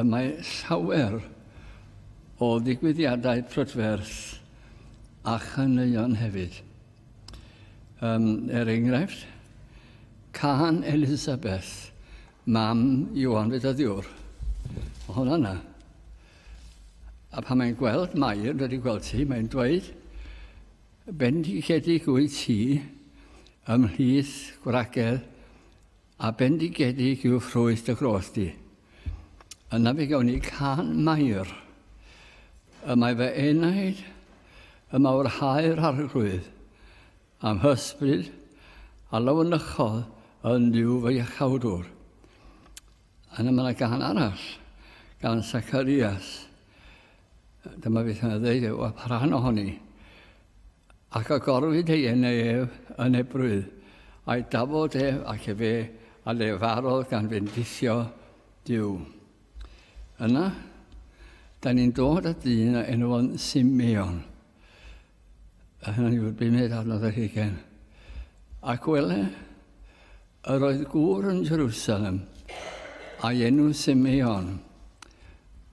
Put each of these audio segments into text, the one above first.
Y mae llawer o ddigwyddiadau prydferth a chaneuon hefyd. Um, er enghraifft, can Elizabeth, mam Iwan Fedyddiwr. Mae hwnna yna. A pan mae'n gweld Mair, wedi gweld ti, mae'n dweud, bendigedig wyt ti ymhlith gwragedd A bendigedig yw ffrwyth dy gros di. Yna fe gawn ni can mair. Y mae fy enaid, y mawr haer arglwydd, am hysbryd a lawnychodd yn ddiw fy iachawdwr. Yna mae yna gan arall, gan Sacarias. Dyma beth mae'n ddeud, o, pa rhan ohoni? Ac agorwyd ei enau ef yn ebrwydd, a'i dafod ef ac efe a lefarodd gan fendithio Duw. Yna, da ni'n dod at ddyn a enw fo'n Simeon. A hynny yw'r bumed adnodd yr hugen. Ac wele, yr oedd gŵr yn Jerusalem, a'i enw Simeon.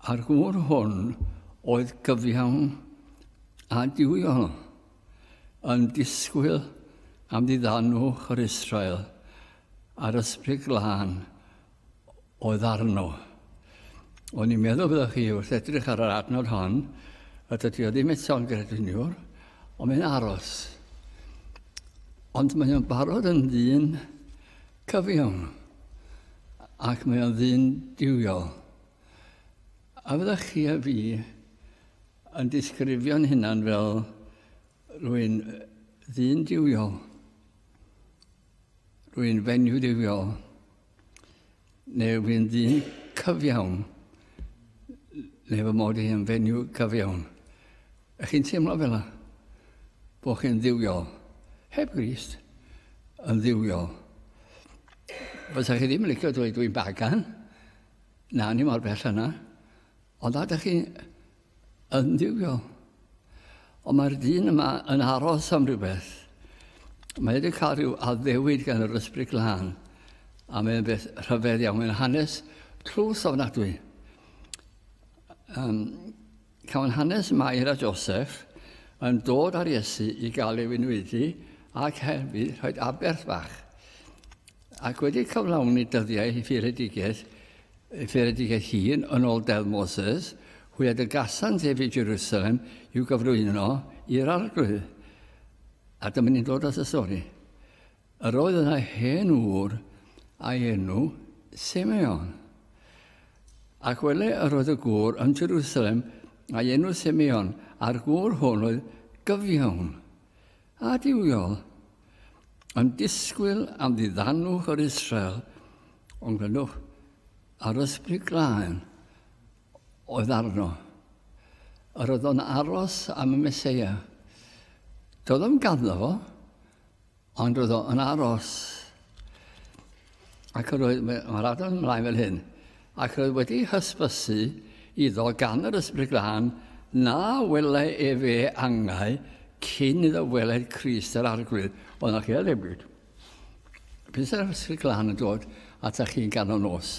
A'r gŵr hwn oedd gyfiawn A dw i yn disgwyl am ddiddanwch yr Israel a'r Ysbryd Glân oedd arno. O'n i'n meddwl byddwch chi wrth edrych ar yr adnod hon, a dydy o ddim eto'n grediniwr, ond mae'n aros. Ond mae o'n barod yn ddyn cyfiawn, ac mae o'n ddyn diwiol. A fyddwch chi a fi Yn disgrifio'n hunan fel rwy'n ddyn diwiol, rwy'n fenyw diwiol, neu rwy'n ddyn cyfiawn, neu fy mod i yn fenyw cyfiawn. Ych chi'n teimlo fel yna? Bod chi'n ddiwiol? Heb Grist, yn ddiwiol. Fysa chi ddim yn licio dweud dwi'n bagan? Na, ni mor bell yna. Ond a dych chi'n yn diwio? Ond mae'r dyn yma yn aros am rhywbeth. Mae wedi cael rhyw addewid gan yr ysbryd glân, a mae'n beth rhyfedd iawn. Mae'n hanes tlws ofnadwy. Um, cawn hanes Mair a Joseph yn dod ar Iesu i gael ei wynwydu ac hefyd rhoi aberth fach. Ac wedi cyflawni dyddiau i fyredigaeth, y fyredigaeth hun yn ôl Deddf Moses, hwyad y gasant ef i Jerusalem i'w gyflwyno i'r arglwydd. A dyma ni'n dod at y stori. Yr oedd yna hen ŵr a'i enw Simeon. Ac wele yr oedd y gŵr yn Jerusalem a'i enw Simeon, a'r gŵr hwn oedd gyfiawn. Adfywiol, yn disgwyl am ddiddanwch yr Israel, ond glyndwch, a'r ysbryd glân oedd arno. Yr oedd o'n aros am y Meseia. Doedd o'm ganddo fo, ond roedd o'n aros. Ac yr oedd, mae'r adran ymlaen fel hyn, ac yr oedd wedi hysbysu iddo gan yr ysbryd glân na wele e fe angau cyn iddo weled Christ yr arglwydd. Oedd yna chi edrych byd. Pys yr ysbryd glân yn dod ata chi'n ganol nos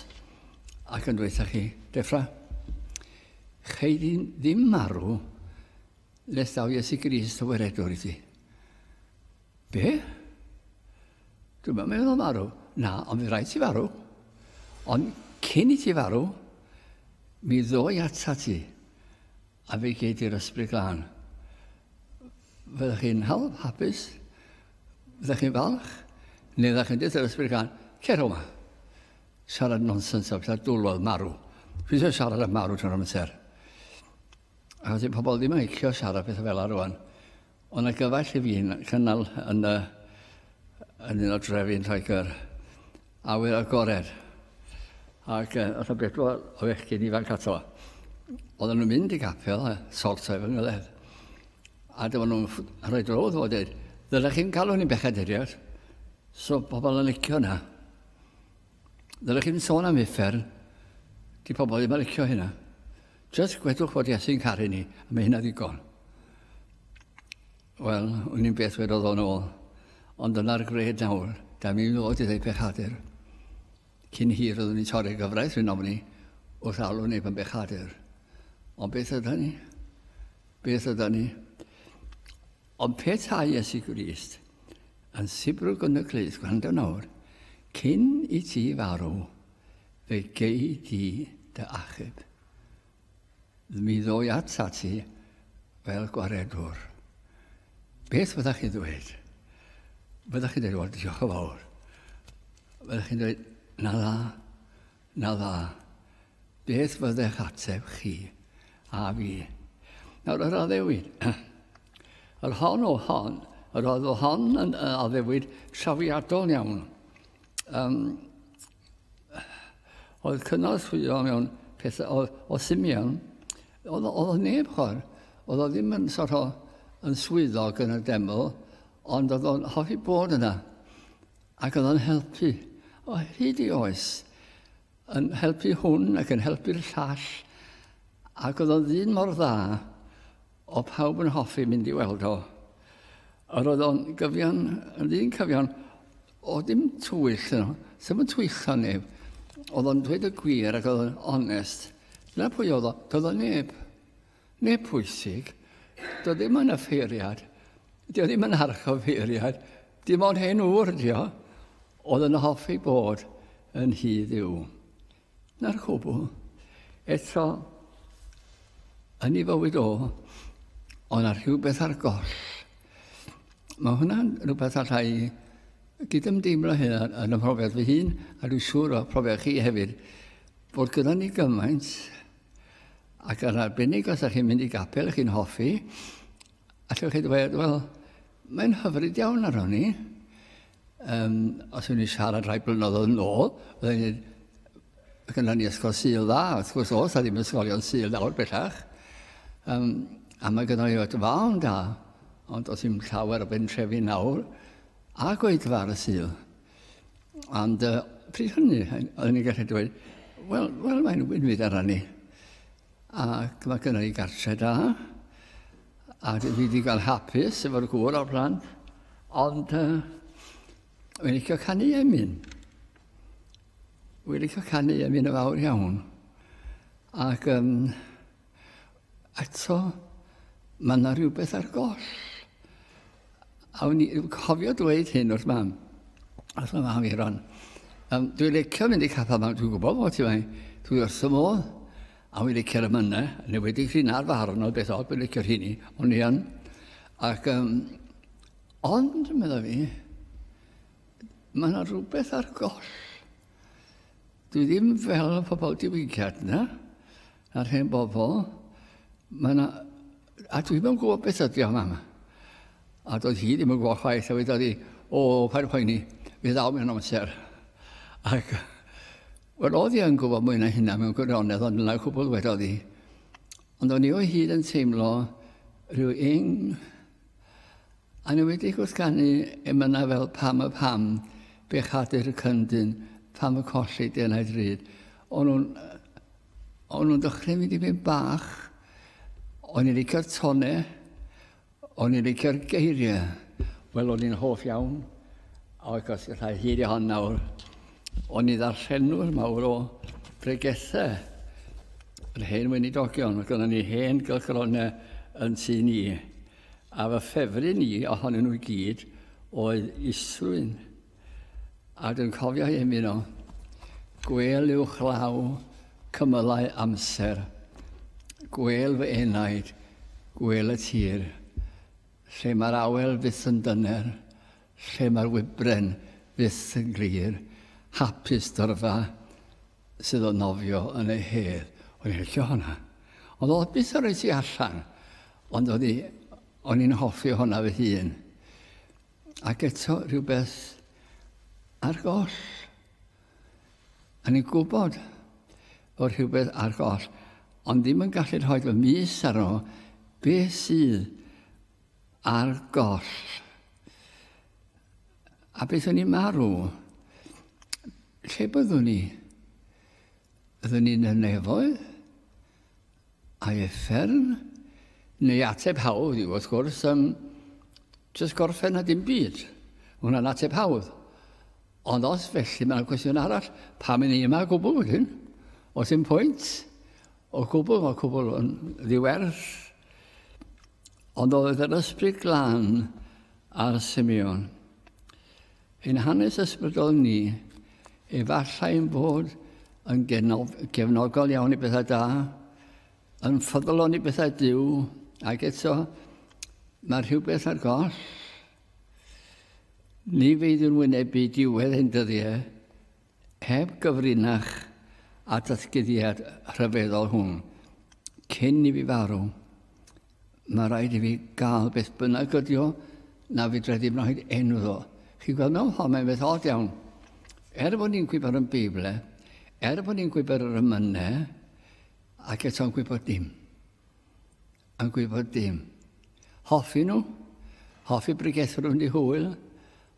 ac yn dweud chi, Defra, chei di ddim marw nes daw Iesu Grist o weredwr i ti. Be? Dwi'm yn meddwl farw. Na, ond fydd rhaid ti farw. Ond cyn i ti farw, mi ddoi ata ti, a fe gei di'r ysbryd glân. Fyddech chi'n hawdd, hapus, fyddech chi'n falch, neu fyddech chi'n dweud yr ysbryd glân, cer o'ma. Siarad nonsens o bethau dwlodd marw. Fi eisiau siarad am marw trwy'r amser. Achos i pobl ddim yn licio siarad pethau fel arwan. Ond na gyfaill i fi cynnal yn, y, yn un o drefi yn Lloegr awyr agored. Ac uh, oedd y bedwar o fechgyn ifanc ato. Oedden nhw'n mynd i gapel a sortau fy ngyledd. A dyma nhw'n rhoi drodd fod dweud, ddylech chi'n galw ni'n bechad eriod. So pobl yn licio hwnna. Ddylech chi'n sôn am uffern. Di pobl ddim yn licio hynna. Just gwedwch fod Iesu'n caru ni, a mae hynna ddigon. Wel, un i'n beth wedodd o'n ôl. Ond dyna'r gred nawr, da mi ddod i ddeu pechadur. Cyn hir oeddwn i'n torri gyfraith rhywun ofni wrth alw neb yn bechadur. Ond beth yda ni? Beth yda ni? Ond petae Iesu Grist yn sibrwd yn y clust, gwrando nawr, cyn i ti farw, fe gei di dy achub. Mi ddoi ata ti fel gwaredwr. Beth fyddwch chi ddweud? Fyddwch chi'n dweud, wel, diolch yn fawr. Fyddwch chi'n dweud, na dda, Na dda. Beth fyddech ateb chi a fi? Nawr, yr addewid. yr hon o hon, yr oedd o hon yn addewid trafiadol iawn. Um, oedd cynorthwyo mewn pethau o, o Simeon, oedd, oedd neb chor, oedd o ddim yn sort o, yn swyddog yn y deml, ond oedd o'n hoffi bod yna. Ac oedd o'n helpu o hyd i oes, yn helpu hwn ac yn helpu'r llall, ac oedd o'n ddyn mor dda, o pawb yn hoffi mynd i weld o. Yr oedd o'n gyfion, yn ddyn cyfion, o dim twyll yno, ddim yn twyllio neb. Oedd o'n dweud y gwir ac oedd o'n onest. Dyna pwy oedd o, doedd o neb. Neu pwysig, dio ddim yn offeiriad, dio ddim yn archoffeiriad, dim ond hen ŵr dio, oedd yn hoffi bod yn hi ddiw. Na'r cwbl. Eto, yn ei fywyd o, ond ar rhywbeth ar goll. Mae hwnna'n rhywbeth allai gydymdeimlo hyn yn y profiad fy hun, a dwi'n siŵr o profiad chi hefyd, bod gyda ni gymaint Ac yn arbennig os ydych chi'n mynd i gapel ych chi'n hoffi, allwch chi ddweud, wel, mae'n hyfryd iawn ar hynny. Um, os yw'n i siarad rhai blynyddoedd yn ôl, byddai'n dweud, ac yna ni ysgol syl dda, wrth gwrs os a ddim ysgolion syl nawr bellach. Um, a mae gyda ni oed fawn da, ond os yw'n llawer o bentrefi nawr, a gweithfa ar y syl. Ond uh, pryd hynny, o'n i'n gallu dweud, wel, wel mae'n wynfyd ar ni. Ac mae gyda ni gartre da, a dwi wedi cael hapus efo'r gŵr o'r plan, ond uh, wedi licio canu emyn. Wedi licio canu emyn y fawr iawn. Ac um, Eto, mae yna rhywbeth ar goll. A o'n i cofio dweud hyn wrth mam. Wrth y mam i ron. Um, dwi'n licio mynd i caffa mam, dwi'n gwybod bod ti mai. Dwi wrth y modd. A wy'n licio'r ymynna, neu wedi hyn ar farn o beth od, wy'n licio'r hynny. O'n i yn. Ac, um, ond, meddwl fi, mae yna rhywbeth ar goll. Dwi ddim fel y pobol diwygiad na. A'r hen bobl, mae yna... A dwi ddim yn gwybod beth ydy o'n am. A doedd hi ddim yn gwybod chwaith, a wedodd hi, o, pa'n poeni, fe ddaw mewn amser. Ac, wel, oedd hi yn gwybod mwy na hynna mewn gwirionedd, ond yna cwbl wedodd hi. Ond o'n i o hyd yn teimlo rhyw ing A ni wedi gwrthganu emynau fel pam y pam, bechadur y cyndyn, pam y colli denau drud. O'n nhw'n O'n nhw'n dechrau mynd i fynd bach. O'n i'n licio'r tone. O'n i'n licio'r geiriau. Wel, o'n i'n hoff iawn. A oedd gos rhai hir i hon nawr. O'n i ddarllenwr mawr o bregethau. Yr hen weinidogion. Oedd gynnon ni hen gylchgronau yn tu ni. A fy ffefryn i ohonyn nhw i gyd oedd Isrwyn. A dwi'n cofio hi ymuno. Gwel yw chlaw cymylau amser. Gwel fy enaid, gwel y tir. Lle mae'r awel fyth yn dyner, lle mae'r wybren fyth yn glir. Hapus dyrfa sydd o nofio yn ei hedd. O'n i'n licio hwnna. Ond oedd byth yn rhoi ti allan. Ond o'n i'n hoffi hwnna fy hun. Ac eto rhywbeth ar goll. A ni'n gwybod bod rhywbeth ar goll, ond ddim yn gallu rhoi fy mis ar ôl beth sydd ar goll. A beth o'n i'n marw? Lle byddwn ni? Byddwn ni'n y nefoedd? Ai effern? Neu ateb hawdd yw, wrth gwrs, um, just gorffen a dim byd. Hwna'n ateb hawdd. Ond os felly, mae'n cwestiwn arall, pam yn ni yma gwbl wedyn? Os yn pwynt, o gwbl, mae cwbl yn ddiwerth. Ond oedd yr ysbryd glan ar Simeon. Ein hanes ysbrydol ni, efallai ein bod yn gefnogol iawn i bethau da, yn ffyddlon i bethau diw, ac eto mae rhywbeth ar goll. Ni feidiwn wynebu diwedd ein dyddiau Heb gyfrinach â'r datguddiad rhyfeddol hwn, cyn i fi farw, mae rhaid i fi gael beth bynnag ydi o, na fedra i ddim rhaid enw ddo. Chi'n gweld mewn ffordd mae'n beth od iawn. Er bod ni'n gwybod yn Beible, er bod ni'n gwybod yr ymynau, ac eto'n gwybod dim. yn gwybod dim. Hoffi nhw, hoffi bregethwr yn ei hwyl,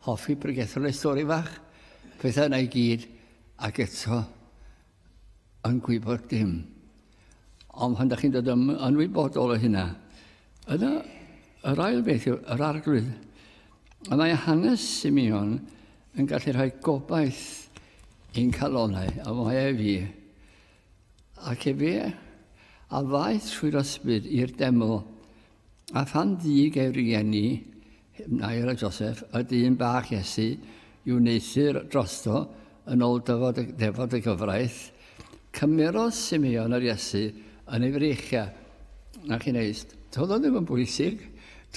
hoffi bregethwr ei stori fach, pethau yna i gyd, ac eto yn gwybod dim. Ond pan da chi'n dod yn, yn wybodol o hynna, yna yr ail beth yw yr arglwydd. A mae hanes Simeon yn gallu rhoi gobaith i'n calonau, a mae e fi. Ac efe a ddaeth trwy'r ysbryd i'r deml, a phan ddug ei rieni, Nair a Joseph, y dyn bach Iesu, i'w wneuthur drosto yn ôl dyfod y, defod y gyfraith, cymerodd Simeon yr Iesu yn ei freichia. Na chi'n eist, doedd o ddim yn bwysig,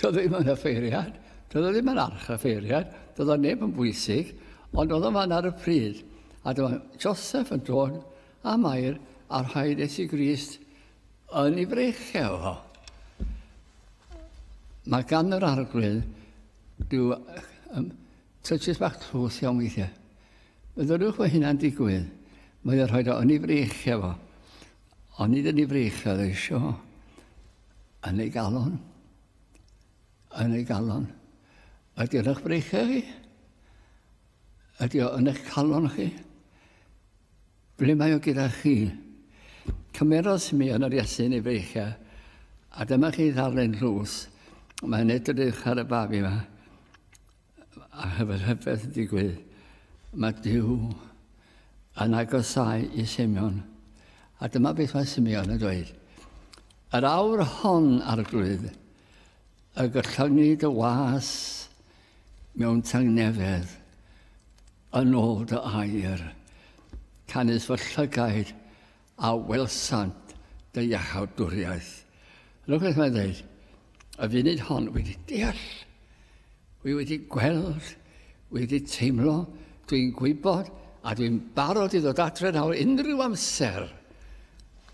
doedd o ddim yn offeiriad, doedd o ddim yn arch offeiriad, doedd o neb yn bwysig, ond oedd o fan ar y pryd. A dyma Joseph yn dod a Mair a rhaid Iesu Grist yn ei freichel ho. Mae gan yr arglwydd rhyw um, tychus bach tlws iawn weithiau. Meddyliwch fod hynna'n digwydd. Mae o'n rhoi o yn ei freichel fo. Ond nid yn ei freichel eisiau. Yn ei galon. Yn ei galon. Ydy'r eich breichel chi? Ydy o yn eich calon chi? Ble mae o gyda chi? Cymerodd Simeon yr Iesyn ei feichiau, a dyma chi ddarllen llws. Mae'n edrych ar y babi yma, a hyfer hyfedd yn digwydd. Mae Dyw yn agosau i Simeon. A dyma beth mae Simeon yn dweud. Yr awr hon, arglwydd, A gollyngu dy was mewn tangnefedd yn ôl dy air, canys fy llygaid a welsant dy iachawdwriaeth. Rhywbeth mae'n dweud, y funud hon, wedi deall, wi wedi gweld, wi wedi teimlo, dwi'n gwybod, a dwi'n barod i ddod adre nawr unrhyw amser,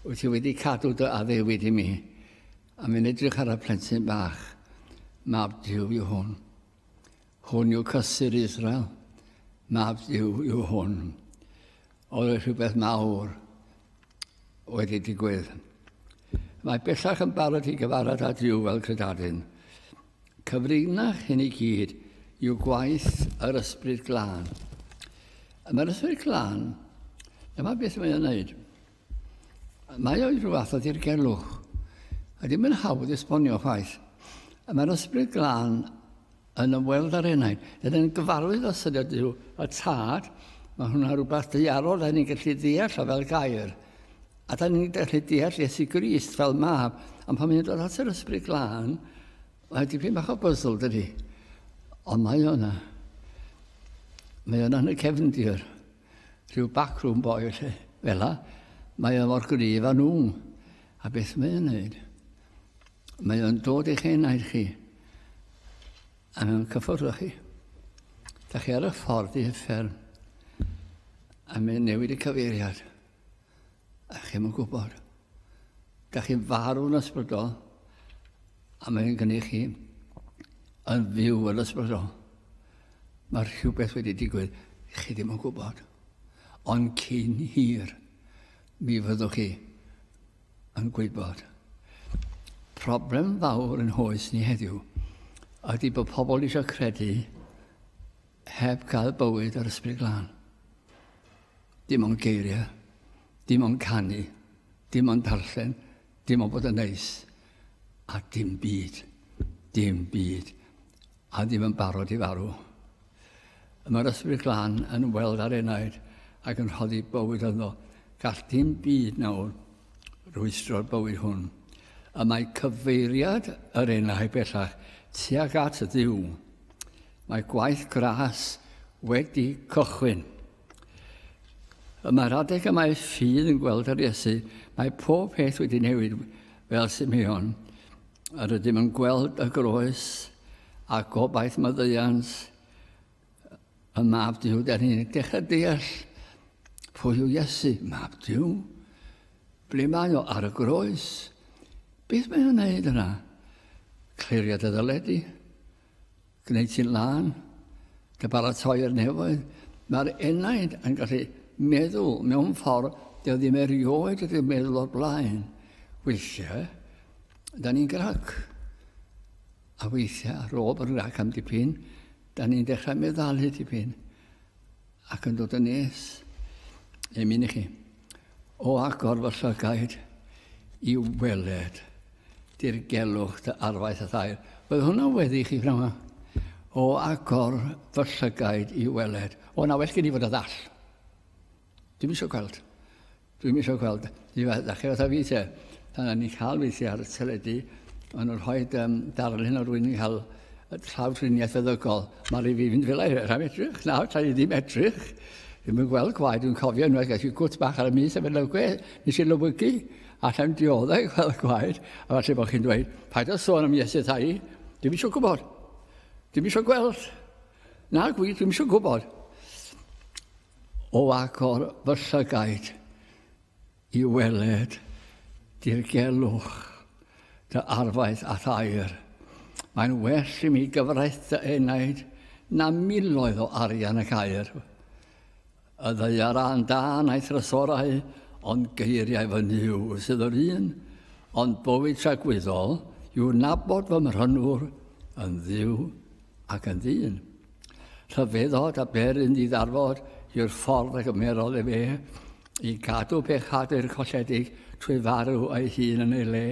wyt ti wedi cadw dy addewid i mi. A mi'n edrych ar y plentyn bach, mab Dyw yw hwn. Hwn yw cysur Israel, mab Dyw yw hwn. Oedd e rhywbeth mawr wedi digwydd. Mae bellach yn barod i gyfarfod â Dyw fel credadyn. Cyfrinach hyn i gyd yw gwaith yr ysbryd glân. Mae'r ysbryd glân, dyma beth mae'n ei wneud. Mae o i ryw fath o ddirgelwch. A ddim yn hawdd esbonio chwaith. A mae'r ysbryd glân yn ymweld â'r enaid. Dyn yn gyfarwydd o syniad Duw y Tad. Mae hwnna rhywbeth deiarol da ni'n gallu ddeall o fel gair. A da ni'n gallu deall Iesu Grist fel mab. Ond pan mae'n dod at yr ysbryd glân, mae dipyn bach o byddl dydy. Ond mae o'na. Mae o'na yn y cefndir. Rhyw backroom boy felly, fela, mae o mor gryf â nhw. A beth mae o'n neud? Mae o'n dod eich enaid chi, a mae'n cyffwrdd â chi. Da chi ar y ffordd i hyffern, a mae'n newid y cyfeiriad. A chi'm yn gwybod. Da chi'n farw yn ysbrydol, a mae'n gynnu chi yn fyw yn ysbrydol. Mae rhywbeth wedi digwydd, chi ddim yn gwybod. Ond cyn hir, mi fyddwch chi yn gwybod. Problem fawr yn hoes ni heddiw ydy bod pobl eisiau credu Heb gael bywyd yr Ysbryd Glân. Dim ond geiriau, dim ond canu, dim ond darllen, dim ond bod yn neis, a dim byd, dim byd, a ddim yn barod i farw. Y mae'r ysbryd glân yn weld ar enaid ac yn rhoddi bywyd yno. Gall dim byd nawr rwystro'r bywyd hwn. Y mae cyfeiriad yr enau bellach tuag at ddiw. Mae gwaith gras wedi cychwyn. Y mae'r adeg y mae ffydd yn gweld ar Iesu, mae pob peth wedi newid fel Simeon. Yr ydym yn gweld y groes a gobaith maddeuant y mab Dyw. Da ni'n dechrau deall pwy yw Iesu, mab Dyw. Ble mae o ar y groes? Beth mae'n gwneud yna? Cliriad y ddyledi. Gwneud ti'n lân, dy baratoi i'r nefoedd. Mae'r enaid yn gallu meddwl mewn ffordd dy ddim erioed wedi meddwl o'r blaen. Weithiau, da ni'n grac. A weithiau, ar ôl bod yn grac am dipyn, da ni'n dechrau meddalu dipyn. Ac yn dod yn nes, emyn i chi, o agor fy llygaid i weled dirgelwch dy arfaeth a thair. Bydd hwnna wedi i chi, pnawn yma. O agor fy llygaid i weled. O, na well gen i fod y ddall. Dim eisiau gweld. Dwi'm isio gweld i fath ddechrau fatha fi te. Pan o'n i'n cael weithiau ar y teledu, o'n nhw'n rhoi um, darlun o rwy'n i'n cael llawdriniaeth feddygol. Mae rhaid fi fynd fel ei rhaid edrych. Nawr, tra i ddim edrych, ddim yn gweld gwaed. Dwi'n cofio unwaith gael i gwt bach ar y mis a fe lygwe, nes i lywygu, a llawn dioddau i gweld gwaed. A falle bod chi'n dweud, paid o sôn am Iesu thai, dim eisiau gwybod. Dim eisiau gweld. Na, gwi, dim eisiau gwybod. O agor fy llygaid i weled dirgelwch dy arfaeth a thair, mae'n well i mi gyfraith dy enaid na miloedd o arian y caer. Y ddaearau'n da na'i thrysorau, ond geiriau fy Nuw sydd yr un, ond bywyd tragwyddol yw nabod fy mhrynwr yn Dduw ac yn ddyn. Rhyfeddod a ber yn ddiddarbod yw'r ffordd a gymerodd ef e i gadw pechadur colledig trwy farw ei hun yn ei le.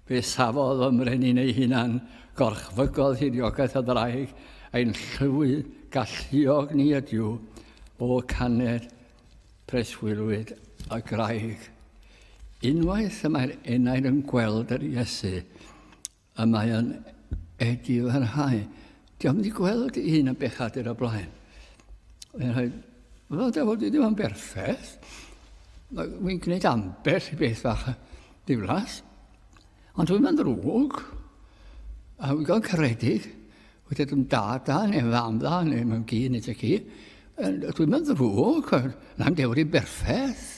Fe safodd y mrenyn ei hunan, gorchfygodd hudiogaeth y ddraig, ein llywi galluog ni ydyw, o caned preswylwyd y graig. Unwaith y mae'r enaid yn gweld yr Iesu, A mae o'n edifyrhau. Dwi am wedi gweld un yn bechadur o blaen. Mae'n rhoi, wel, da fod i ddim yn berffaith. Mae'n gwneud ambell i beth fach diflas. Ond dwi'n mynd rwg. A wy'n gael caredig. Wy'n dweud yn da da, neu fam dda, neu mae'n gi, neu ti ci. Dwi'n mynd rwg. Na'n dewr i berffaith.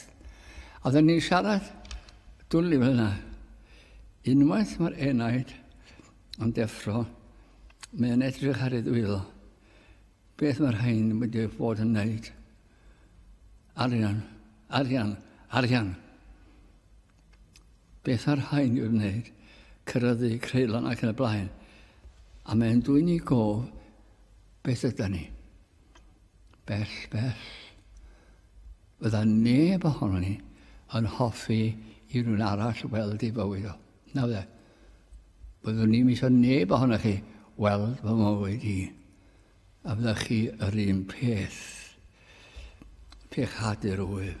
A dda ni'n siarad dwli fel yna. Unwaith mae'r enaid yn deffro, mae yn edrych ar ei ddwylo. Beth mae'r rhain wedi bod yn wneud? Arian, arian, arian. Beth mae'r rhain yw'r wneud? Cyrraeddu creulon ac yn y blaen. A mae'n dwyni gof beth yda ni. Bell, bell. Bydda neb ohono ni yn hoffi i rhywun arall weld ei fywyd o. Na fydde. Byddwn ni'n misio neb ohono chi weld fy mywyd i. A fydda chi yr un peth. Pe chadur wyf,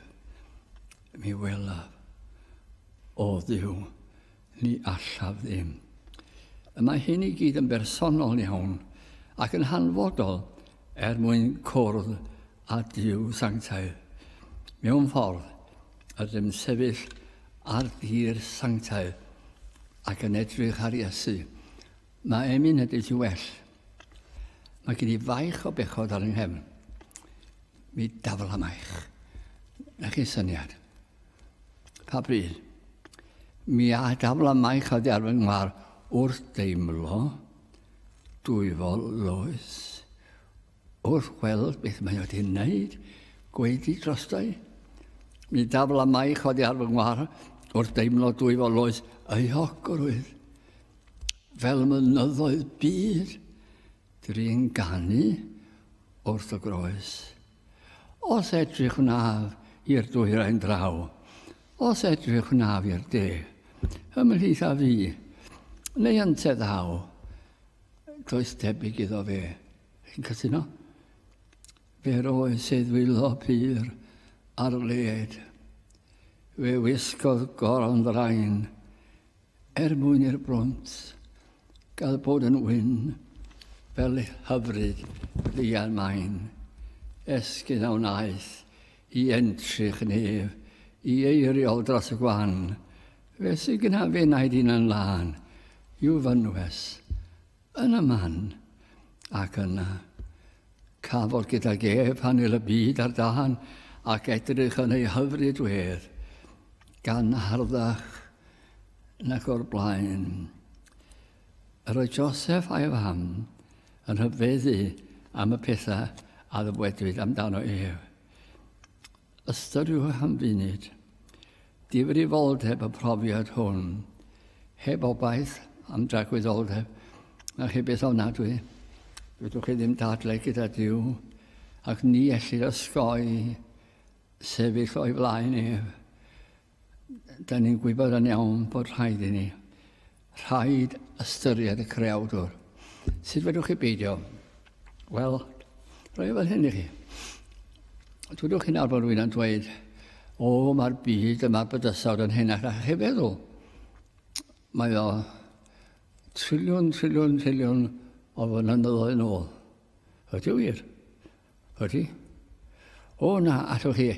mi welaf o ddiw. Ni allaf ddim. Y mae hyn i gyd yn bersonol iawn ac yn hanfodol er mwyn cwrdd a Dyw Sanctaidd. Mewn ffordd, ydym sefyll ar dir sanctaidd ac yn edrych ar Iesu. Mae emyn ydy ti well. Mae gen i faich o bechod ar yng nghefn. Mi daflamaich. Na chi syniad. Pa bryd? Mi a dafla mai chodi ar fy ngwar wrth deimlo dwyfol loes, wrth weld beth mae wedi wneud, gweidi drostau. Mi dafla mai chodi ar fy ngwar wrth deimlo dwyfol loes ei hocrwydd. Fel mynyddoedd byd, drin ganu wrth y groes. Os edrych wnaf i'r dwyrain draw, Os edrych wnaf i'r de, Ymhlith a fi, neu ynteu ddaw, Does debyg iddo fe. Chi'n cytuno? Fe roedd se ddwylo pur ar led. Fe wisgodd goron ddraen, Er mwyn i'r brwnt gael bod yn wyn fel hyfryd ddian maen, esgyn a wnaeth i entrych yn ef i eiriol dros y gwan, fe sy gyna f'enaid un yn lân, i'w fynwes, Yn y man, ac yna, cafodd gydag ef hanel y byd ar dân ac edrych yn ei hyfryd wedd, gan harddach nag o'r blaen. Yr oedd Joseph a'i fam yn hyfeddu am y pethau a ddywedwyd amdano ef. Ystyriwch am funud difrifoldeb y profiad hwn, heb obaith am dragwyddoldeb, na chi beth ofnadwy, rydwch chi ddim dadle gyda Dyw, ac ni ellid osgoi sefyll o'i flaen ef. Da ni'n gwybod yn iawn bod rhaid i ni. Rhaid ystyried y creawdwr. Sut fedrwch chi beidio? Wel, rhoi fel hyn i chi. Dwydwch chi'n arfer rwy'n yn dweud, o, mae'r byd yma bydysawd yn hyn ac ach chi feddwl. Mae o triliwn, triliwn, triliwn o fynyddoedd yn ôl. Ydy wir? Ydy. O na, allwch chi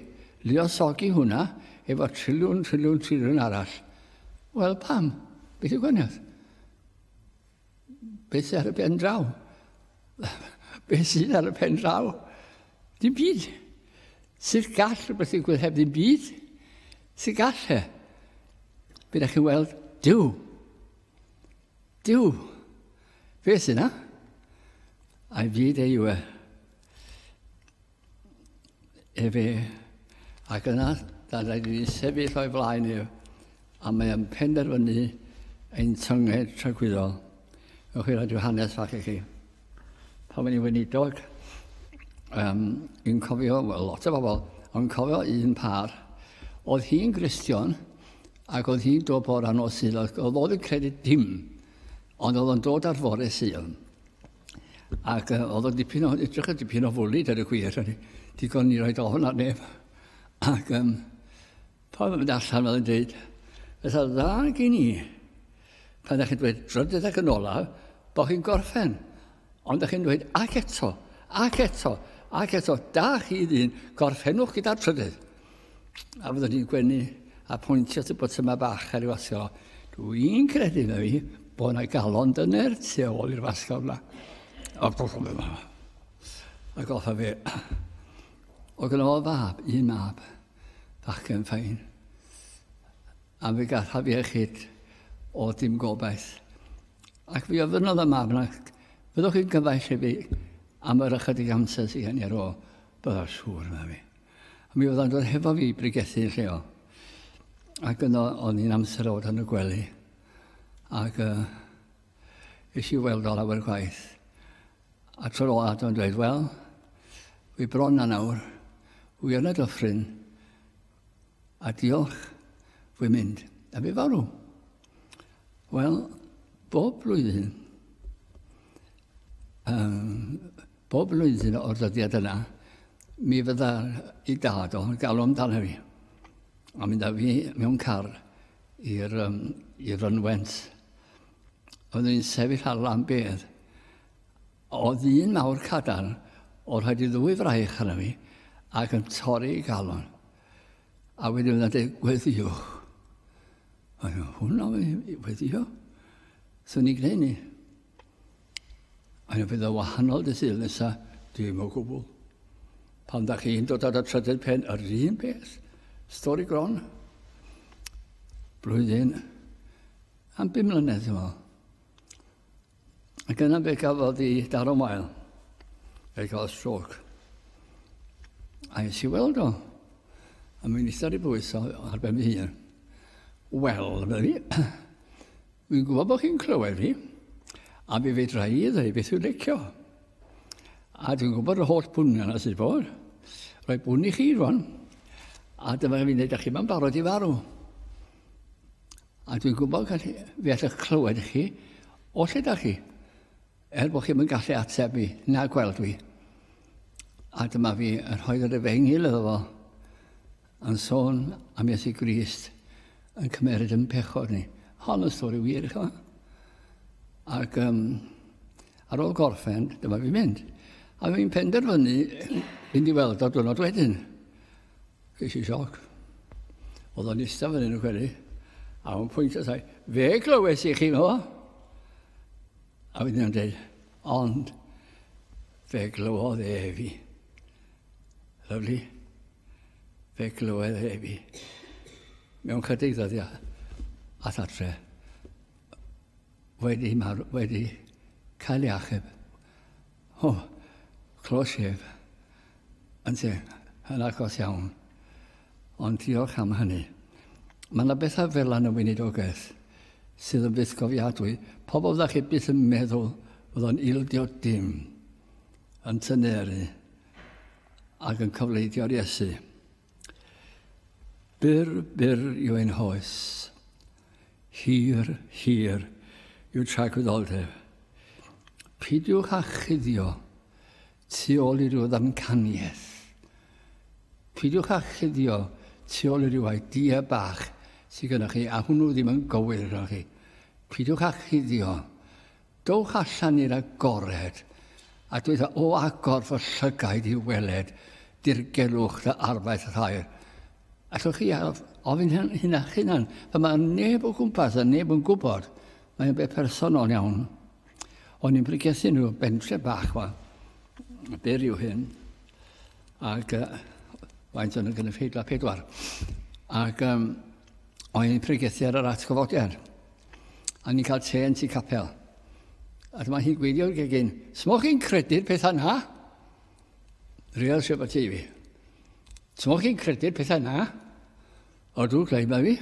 luosogi hwnna efo triliwn, triliwn, triliwn arall. Wel, pam? Beth yw gwaniaeth? Beth sydd ar y pen draw? Beth sydd ar y pen draw? Dim byd. Sut gall rhywbeth ddigwydd heb ddim byd? Sut gall e? Bydd chi weld, diw. Diw. Fe sy'n na? A'i fyd ei yw e. Efe, ac yna, da rhaid i ni sefyll o'i flaen ef, a mae yn penderfynu ein tynged tragwyddol. Ewch i roi rhyw hanes fach i chi. Pan o'n i'n weinidog, um, yn cofio, well, lot o bobl, ond cofio un par, oedd hi'n gristion, ac oedd hi'n dod bor anodd sydd, oedd oedd yn credu dim Ond oedd o'n dod ar fore Sion. Ac uh, oedd o'n dipyn o, edrych yn dipyn o fwlyd ar y gwir. Digon ni roed ofn ar neb. Ac um, pa oedd yn mynd allan oedd yn dweud, Fytha dda gen i, pan ydych chi'n dweud drydydd ac yn olaf, bod chi'n gorffen. Ond da chi'n dweud, ac eto, ac eto, ac eto, da chi ddyn, gorffennwch gyda'r trydydd. A fyddwn ni'n gwenu a pwyntio at y botymau bach ar ei wasio. Dwi'n credu na fi bod yna galon dyner tu ôl i'r wasio yma. A goffa fe yma. A goffa fe. O gyda o fab, un mab, fachgen ffain. A fe gataf iechyd o dim gobaith. Ac fe ofynnodd y mab yna, Fyddwch chi'n gyfaill i fi am yr ychydig amser sydd gen i ar ôl? Byddaf siŵr, yna fi. A mi oedd o'n dod hefo fi i brigethu yn lleol. Ac yno, o'n i'n amser o fod yn y gwely. Ac uh, eisiau i weld o lawer gwaith. A tro ola oedd o'n dweud, wel, fi bron na nawr, wy yn y dyffryn, A diolch, fwy mynd, a fi farw. Wel, bob blwyddyn, um, bob blwyddyn o'r dyddiad yna, mi fydda i dad o'n galw amdano fi. A mynd â fi mewn car i'r um, i Rynwent. Oeddwn i'n sefyll ar lan bedd O ddyn mawr cadarn, oedd rhaid i ddwy fraich arna fi, ac yn torri i galon. A wedyn fydda'n dweud, gweddiwch. A dweud, hwnna wedi weddio. Swn i'n gwneud ni. A dweud, bydd o wahanol dy sydd nesa, dim o gwbl. Pan da chi'n dod ar y trydydd pen, yr un peth. Stori gron. Blwyddyn am bum mlynedd, dwi'n meddwl. Ac yna fe gafodd i daro mael. Fe gafodd stroc. A nes i weld o. A mi'n eistedd i bwys ar ben fy hun. Wel, fe fi, fi'n gwybod bod chi'n clywed fi, a fi fedra i ddweud beth yw'n lecio. A dwi'n gwybod y holl bwni yna sydd bod. Rhaid bwni chi rwan. A dyma fi'n dweud, a chi mae'n barod i farw. A dwi'n gwybod gallu, fi allwch clywed chi, o lle da chi? Er bod chi'n yn gallu ateb fi, na gweld fi. A dyma fi yn rhoi yr efengil iddo fo, yn sôn am Iesu Grist yn cymeryd yn pechod ni. Hon y stori wir, chi Ac um, ar ôl gorffen, dyma fi'n mynd. A fi'n penderfynu fynd i weld o diwrnod wedyn. Ges i sioc. Oedd o'n eistedd fan hyn yn cweri. A o'n pwynt o sai, fe glywes i chi fo. A wedyn o'n dweud, ond fe glywodd e fi. Lyflu. Fe glywodd e fi. Mewn chydig ddyddiau, a thatre, wedi, wedi cael ei achub O, close shave. Ynte, yn agos iawn. Ond diolch am hynny. Mae yna bethau fel yn y weinidogaeth sydd yn fythgofiadwy. Pobl ddech chi byth yn meddwl oedd o'n ildio dim, yn tyneru ac yn cofleidio'r Iesu. Byr, byr yw ein hoes. Hir, hir yw tragwyddoldeb. Pidiwch â chuddio tu ôl i ryw ddamcaniaeth. Pidiwch â chuddio tu ôl i ryw idea bach sydd gennych chi, a hwnnw ddim yn gywir arnoch chi. Pidiwch â chuddio Dowch allan i'r agored, a dweda, O agor fy llygaid i weled dirgelwch dy arfaeth rhaer. Allwch chi ofyn hyn a'ch hunan, pan mae neb o gwmpas a neb yn gwybod, mae'n beth personol iawn. O'n i'n pregethu nhw bentre bach ma, byr yw hyn, ac uh, faint o'n y gynulleidfa pedwar. Ac um, O'n i'n pregethu ar yr atgyfodiad. A ni'n cael te yn tu capel. A dyma hi'n gweidio gegin, Smoch chi'n credu'r pethau na? Real sy'n bod ti fi. Smoch chi'n credu'r pethau na? O, dwi'n gleid mae fi.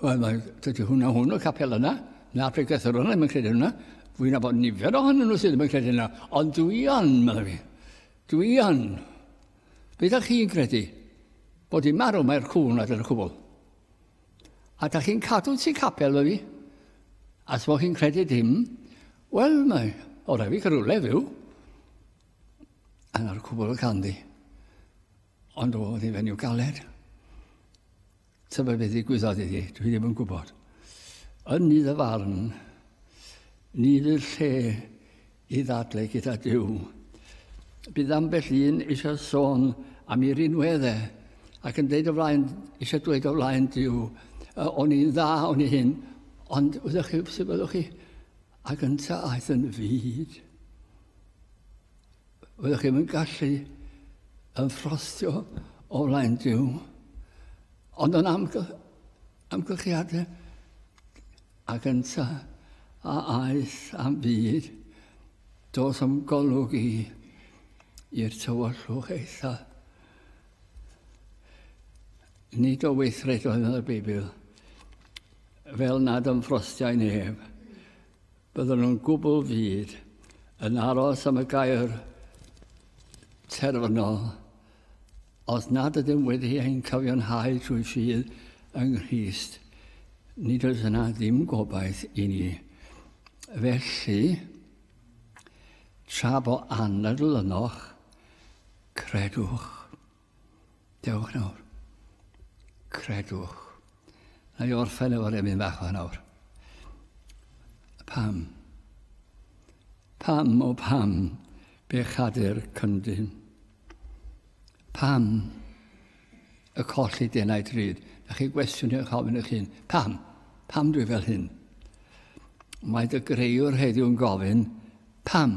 Wel, mae, dydy hwnna hwn o capel yna. Na, pregethwr hwnna ddim yn credu hwnna. Fwy'n abod nifer ohonyn nhw sydd ddim yn credu hwnna. Ond dwi on, mae fi. Dwi on. Ydych chi'n credu bod hi'n marw mae'r cŵn nad yn y cwbl? A da chi'n cadw ti capel fy fi? As fo chi'n credu dim, wel mae o rhaid fi cyrwle fyw. A na'r cwbl ganddi. Ond o, oedd hi'n fenyw galed. Tybed beth ddigwyddodd iddi? Dwi ddim yn gwybod. Yn ni ddyfarn, ni fydd lle i ddadle gyda Dyw. Bydd ambell un eisiau sôn am ei rinwedd e, ac yn dweud o flaen, eisiau dweud o flaen Dyw, o'n i'n dda, o'n i hyn, ond ydych chi, sut fyddwch chi? A gynta aeth yn fyd. Fyddwch chi'm yn gallu yn ffrostio o flaen Duw, ond yn amgy, amgylchiadau a gynta a aeth am byd, dos am golwg i i'r tywyllwch eitha. Nid o weithredoedd yn y Beibl, fel nad ymffrostiau neb, Byddan nhw'n gwbl fud yn aros am y gair terfynol os nad ydym wedi ein cyfiawnhau trwy ffydd yng Nghrist. Nid oes yna ddim gobaith i ni. Felly, tra bo anadl ynoch, credwch. Dewch nawr. Credwch. Na i orffen efo rhywun fach o nawr. Pam? Pam o pam bechadur cyndyn? Pam y colli denau drud? Na chi gwestiwn eich ofyn eich hun. Pam? Pam dwi fel hyn? Mae dy greiwr heddiw'n gofyn, pam?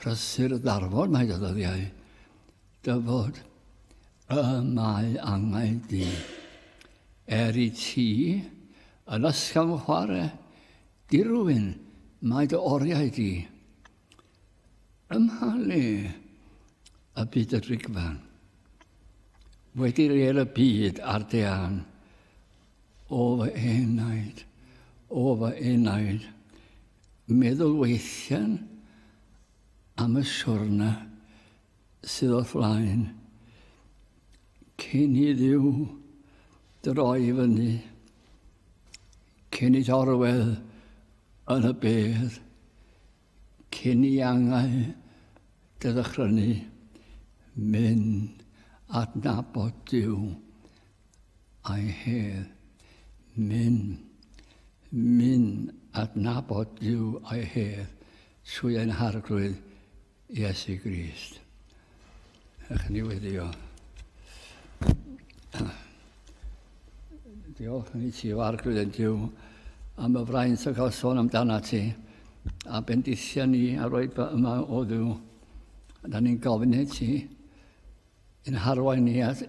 Prysur ddarfod mae dy ddyddiau, dyfod y mae angau di. Er i ti yn ysgafn chware, dirwyn mae dy oriau di. Ymhalu y byd y drigfan, wedi rêl y byd ar dean, O fy enaid, o fy enaid, meddwl weithian am y siwrna sydd o flaen, cyn i ddiw droi fyny, cyn i dorwedd yn y bedd, Cyn i angau dy ddychrynnu, mynd adnabod Duw a'i hedd. Mynd, mynd adnabod Duw a'i hedd trwy ein Harglwydd Iesu Grist. Ych ni wedi o. Diolch i ti, Farc, rydyn diw, am y fraint o gael sôn amdana ti, a bendithio ni a roi fy yma o ddiw. Da ni'n gofyn i ti, yn harwain ni at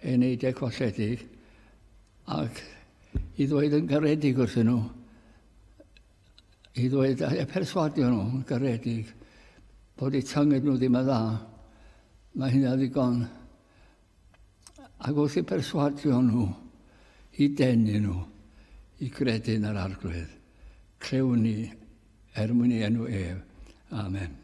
ein eidiau colledig, ac i ddweud yn garedig wrthyn nhw, I ddweud a perswadio nhw yn garedig bod eu tynged nhw ddim yn dda, mae hynna ddigon. Ac wrth i perswadio nhw i denu nhw i gredu yn yr arglwydd, clewn ni er mwyn ei enw ef. Amen.